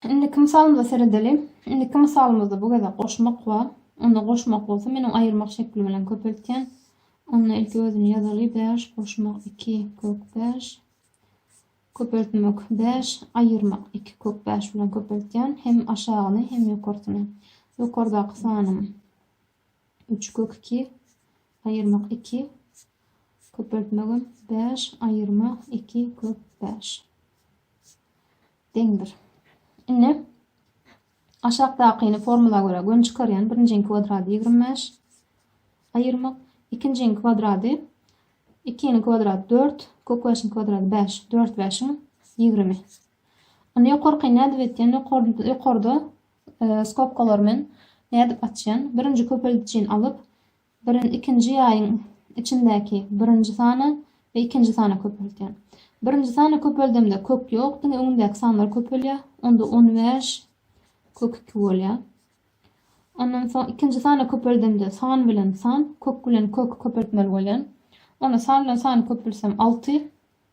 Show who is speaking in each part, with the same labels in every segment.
Speaker 1: Indiki mysalymyza seredeliň. Indiki mysalymyzda bu gezek goşmak bar. Onda goşmak bolsa meniň aýyrmak şekli bilen köpeltýän. Onda ilki özüni ýazaly, bäş, goşmak, iki, kök, bäş. Köpeltmek, bäş, aýyrmak, iki, kök, bäş bilen köpeltýän, hem aşagyny, hem ýokarsyny. Ýokardaky sanym. Üç kök iki, aýyrmak iki, köpeltmegem bäş, aýyrma iki kök bäş deňdir. Indi aşakdakyny formula görä göni çykarýan. Birinjiň kwadrady ýigrimi bäş, aýyrmak ikinjiň kwadrady ikiniň kwadrady dört, kök bäşiň kwadrady bäş, dört bäşiň ýigrimi. Indi ýokarky nädip etýän? Ýokarda Skobkalar men nädip açýan? Birinji köpeldiçini alyp, birin ikinji ýaýyň içindäki birinji sana we ikinji sana köpeltýän. Birinji sana köpeldemde kök ýok, diňe öňündäki sanlar köpelýär. Onda on bäş kök iki bolýar. Ondan soň ikinji sana köpeldemde san bilen san, kök bilen kök köpeltmeli bolýan. Onda san bilen sany köpelsem alty,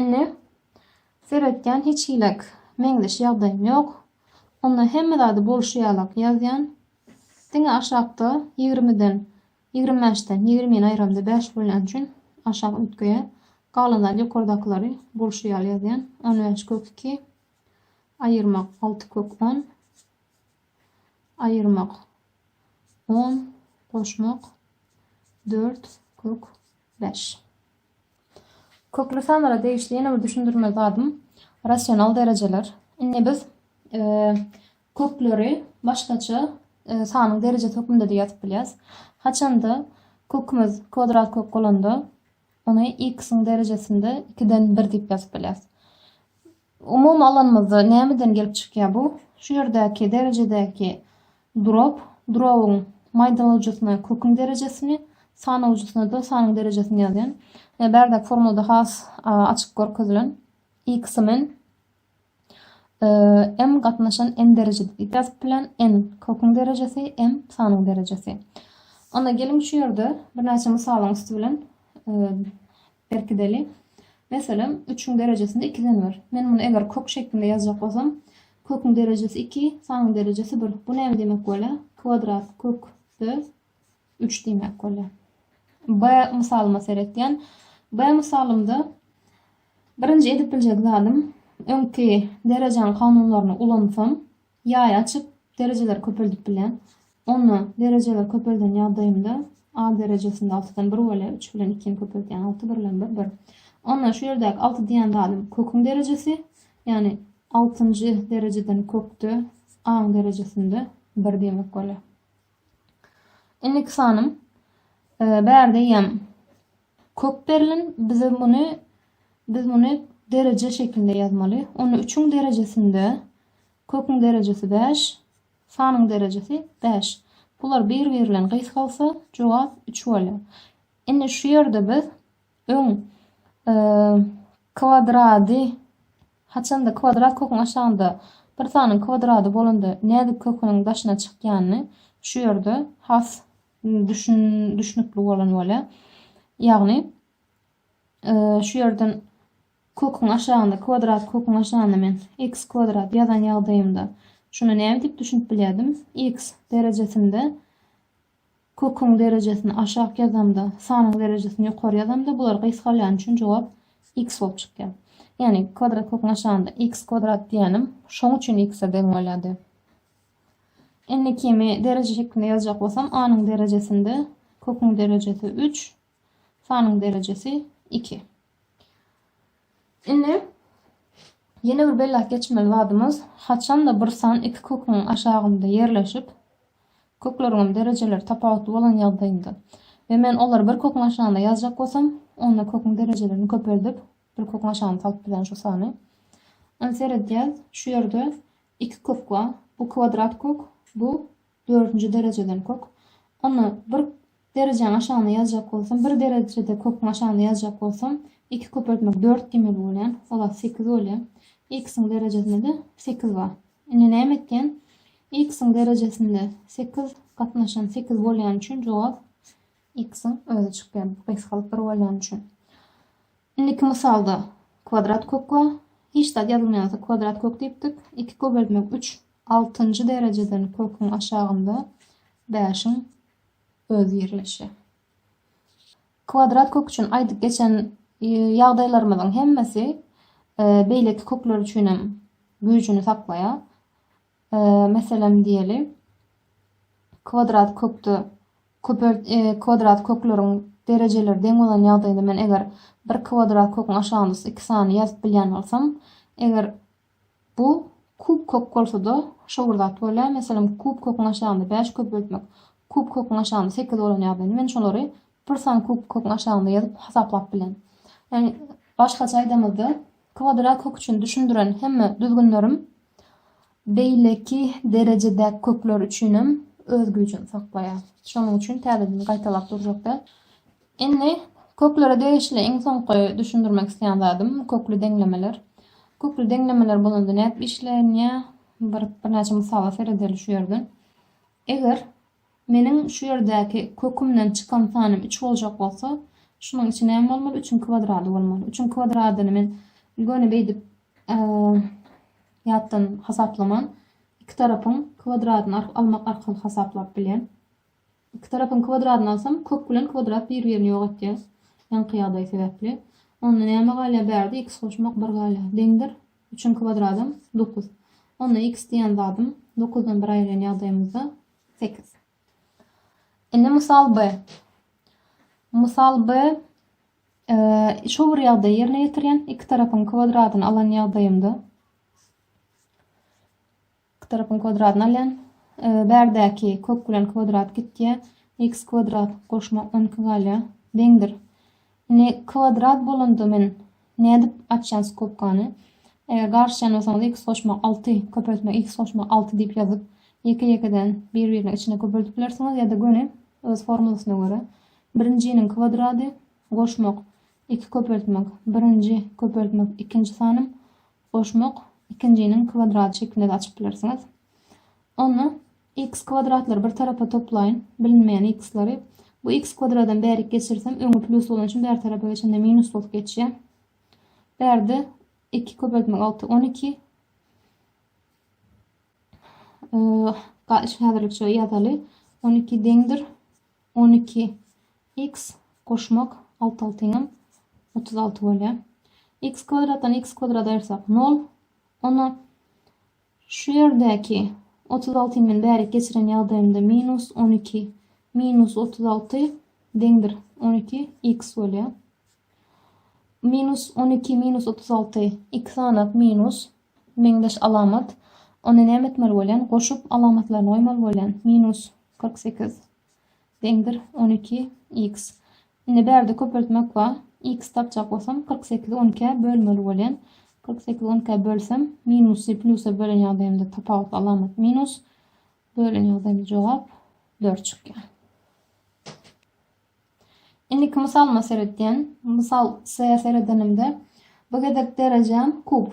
Speaker 1: Indi seretýän hiç hiläk meňzeş ýagdaýym ýok. Onda hemme zady bolşy ýalak ýazýan. Diňe aşakda ýigrimiden, ýigrim bäşden, ýigrimini aýyramda bäş bolýan üçin aşak üýtgeýä. Galan zady ýokardakylary bolşy ýaly ýazýan. On bäş kök iki. Aýyrmak alty kök on. Aýyrmak on. Goşmak dört kök bäş. Kökli sanlara degişli ýene bir düşündirmeli zadym rasional derejeler. Indi biz kökleri başgaça sanyň derejesi hökmünde-de ýazyp bilýäris. Haçanda kökümiz kwadrat kök bolanda ony x-iň derejesinde 2-den 1 diýip ýazyp bilýäris. Umumy alanymyzda nämeden gelip çykýar bu? Şu ýerdäki derejedäki durap, durabyň maýdalyjysyna köküň derejesini, sanawjysyna-da sanyň derejesini ýazýan. Ýa bärdäki formulada has açyk görkezilen. X men m gatnaşan n derejede diýip ýazyp bilen. N köküň derejesi, m sanyň derejesi. Onda geliň şu ýerde birnäçe mysalyň üsti bilen Berkideli. Meselem, üçüň derejesinde ikiden bir. Men muny eger kök şeklinde ýazjak bolsam, köküň derejesi iki, sanyň derejesi bir. Bu näme diýmek bolýar? Kwadrat kökde üç diýmek bolýar. B mysalyma seretýän. B mysalymda birinji edip biljek zadym öňki derejäň kanunlaryny ulansam, Ýaý açyp, derejeleri köpeldip bilýän. Onda derejeleri köpelden ýagdaýymda A derejesinde altydan bir bolýar, üç bilen ikini köpeldýän, alty, bir bilen bir, bir. Onda şu ýerdäki alty diýýän zadym köküň derejesi, ýagny altynjy derejeden kökde A-nyň derejesinde bir diýmek bolýar. Indiki sanym bärde eýýäm Kök berlen bize muny biz muny dereje şeklinde ýazmaly. Ony üçüň derejesinde köküň derejesi bäş, sanyň derejesi bäş. Bular bir-biri bilen gysgalsa, jogap üç bolýar. Indi şu ýerde biz öň kwadrady haçanda kwadrat köküň aşagynda bir sanyň kwadrady bolanda nädip köküniň daşyna çykýanyny şu ýerde has Düşün, düşnükli bolan bolýar. Ýagny e, şu ýerden köküň aşagynda kwadrat köküň aşagynda men x kwadrat ýazan ýagdaýymda şuna näme diýip düşünip bilýärdim? x derejesinde köküň derejesini aşak ýazamda, sanyň derejesini ýokary ýazamda bular gysgalýan üçin jogap x bolup çykýar. Ýagny kwadrat köküň aşagynda x kwadrat diýenim şoň üçin x-e deň bolýardy. Indi kimi dereje şeklinde ýazjak bolsam, A-nyň derejesinde köküň derejesi 3, sanyň derejesi 2. Indi ýene bir belläp geçmeli zadymyz, haçanda bir san iki köküň aşagynda ýerleşip, kökleriňem derejeleri tapawutly bolan ýagdaýynda we men olary bir köküň aşagynda ýazjak bolsam, onda köküň derejelerini köpeldip, bir köküň aşagyna salyp bilen şu sany. Indi seredýäs, şu ýerde Iki kök bar. Bu kwadrat kök, bu dördünji derejeden kök. Onda bir derejäň aşagyna ýazjak bolsam, bir derejede köküň aşagyna ýazjak bolsam, iki köpeltmek dört diýmeli bolýan. Olar sekiz bolýar. X-iň derejesinde-de sekiz bar. Indi näme etýän? X-iň derejesinde sekiz gatnaşan sekiz bolýany üçin jogap X-iň özi çykýar, bu gysgalyk bir bolýany üçin. Indiki mysalda kwadrat kök bar. Hiç zat ýazylmaýan bolsa kwadrat kök diýipdik. Iki köpeltmek üç. Altynjy derejeden köküň aşagynda bäşiň özi ýerleşýär. Kwadrat kök üçin aýdyp geçen e, ýagdaýlarymyzyň hemmesi e, beýleki kökler üçin hem güýjüni saklaýar. Meselem diýeli, kwadrat kökde köpelt kwadrat kökleriň derejeleri deň bolan ýagdaýynda men eger bir kwadrat köküň aşagynda şu iki sany ýazyp bilýän bolsam, eger bu kub kök bolsa-da şo bir zat bolýar. Meselem, kub köküň aşagynda bäş köpeltmek kub köküň aşagynda sekiz bolan ýagdaýynda men şolary bir sany kub köküň aşagynda ýazyp hasaplap bilen. Ýagny başgaça aýdamyzda, Kwadrat kök üçin düşündiren hemme düzgünlerim beýleki derejedäki kökler üçinem öz güýjüni saklaýar. Şonuň üçin täzeden gaýtalap durjak däl. Indi köklere degişli iň soňky düşündirmek isleýän zadym kökli deňlemeler. Kökli deňlemeler bolanda nädip işlenýär? Bir birnäçe mysala seredeli şu ýerden. Eger Meniň şu ýerdäki kökümden çykan sanym üç boljak bolsa, şunuň içi näme bolmaly? Üçüň kwadrady bolmaly. Üçüň kwadradyny men göni beýdip ýatdan hasaplaman, iki tarapyň kwadradyny almak arkaly hasaplap bilýän. Iki tarapyň kwadradyny alsam, kök bilen kwadrat bir-birini ýok etýär. Ýaňky ýagdaý sebäpli. Onda näme galýar bärde? X goşmak bir galýar. Deňdir. Üçiň kwadradam, dokuz. Onda x diýen zadym dokuzdan bir aýyrýan ýagdaýymyzda, sekiz. Indi mysal B. Mysal B, şu bir ýagdaýy ýerine ýetirýän, iki tarapyň kwadradyny alan ýagdaýymda, Iki tarapyň kwadratyny alýan. Bärdäki kök bilen kwadrat gitýär. X kwadrat goşmak on iki galýar. Deňdir. Indi kwadrat bolanda men nädip açýan skobkany? Eger garşýan bolsaňyz x goşmak alty, köpeltmek x goşmak alty diýip ýazyp, ýeke-ýekeden bir-biriniň içine köpeltip bilersiňiz ýa-da göni öz formulasyna görä. Birinjiniň kwadrady goşmak iki köpeltmek birinji köpeltmek ikinji sanym Goşmak, ikinjiniň kwadrat şeklinde-de açyp bilersiňiz. Onda x kwadratlary bir tarapa toplaýyn, bilinmeýän x-lary. Bu x kwadradam bärik geçirsem, öňi plusly bolany üçin bäri tarapa geçende minus bolup geçýär. Bärde iki köpeltmek alty, on iki. Häzirlikçe ýazaly. On iki deňdir. On iki x goşmak alty altyňam otuz alty bolýar. X kwadratdan x kwadrat aýyrsak nol. Ony şu ýerdäki otuz alty bilen bärik geçiren ýagdaýymda minus on iki minus otuz alty deňdir on iki x bolýar. Minus on iki minus otuz alty iki sanak minus meňzeş alamat. Onda näme etmeli bolýan? Goşup alamatlaryny goýmaly bolýan. Minus Kyrk sekiz. Deňdir on iki x. Indi bärde köpeltmek bar. X tapjak bolsam kyrk sekizi on ikä bölmeli bolýan. Kyrk sekizi on ikä bölsem minusy plýusa bölen ýagdaýymda tapawutly alamat minus. Bölen ýagdaýymda jogap dört çykýar. Indiki mysalyma seretýän. Mysal C seredenimde bu gezek derejäm kub.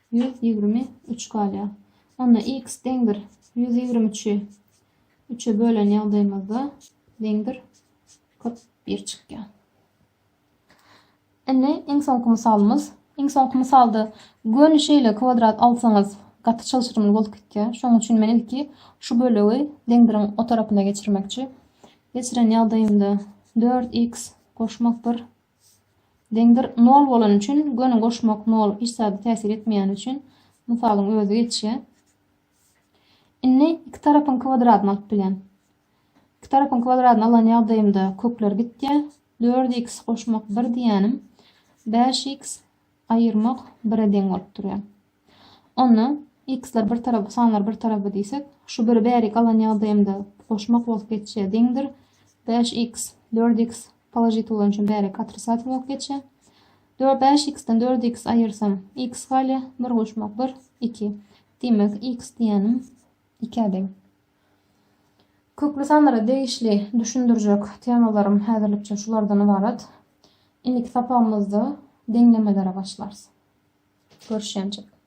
Speaker 1: Ýüz ýigrimi üç galýar. Onda x deňdir ýüz ýigrimi üçi üçe bölen ýagdaýymyzda deňdir kyrk bir çykýar. Indi iň soňky mysalymyz. Iň soňky mysalda göni şeýle kwadrat alsaňyz gaty çylşyrymly bolup gitýär. Şonuň üçin men ilki şu bölegi deňdiriň o tarapyna geçirmekçi. Geçiren ýagdaýymda dört x goşmak bir Deňdir nol bolany üçin göni goşmak nol hiç zada täsir etmeýäni üçin mysalyň özi geçýär. Indi iki tarapyň kwadradyny alyp bilýän. Iki tarapyň kwadradyny alan ýagdaýymda kökler gitýär. 4x goşmak 1 diýýänim 5x aýyrmak 1-e deň bolup durýar. Onda x-ler bir tarap, sanlar bir tarap diýsek, şu biri bäri galan ýagdaýymda goşmak bolup geçýär, deňdir. Bäş x, dört x položit bolany üçin bäri katrisativ bolup geçýär. Dört, bäş x-den dört x aýyrsam, x galýar, bir goşmak bir, iki. Diýmek, x diýýänim ikä deň. Köpri sanlara degişli düşündirjek temalarym häzirlikçe şulardan ybarat. Indiki sapagymyzda deňlemelere başlarys. Görüşýänçik.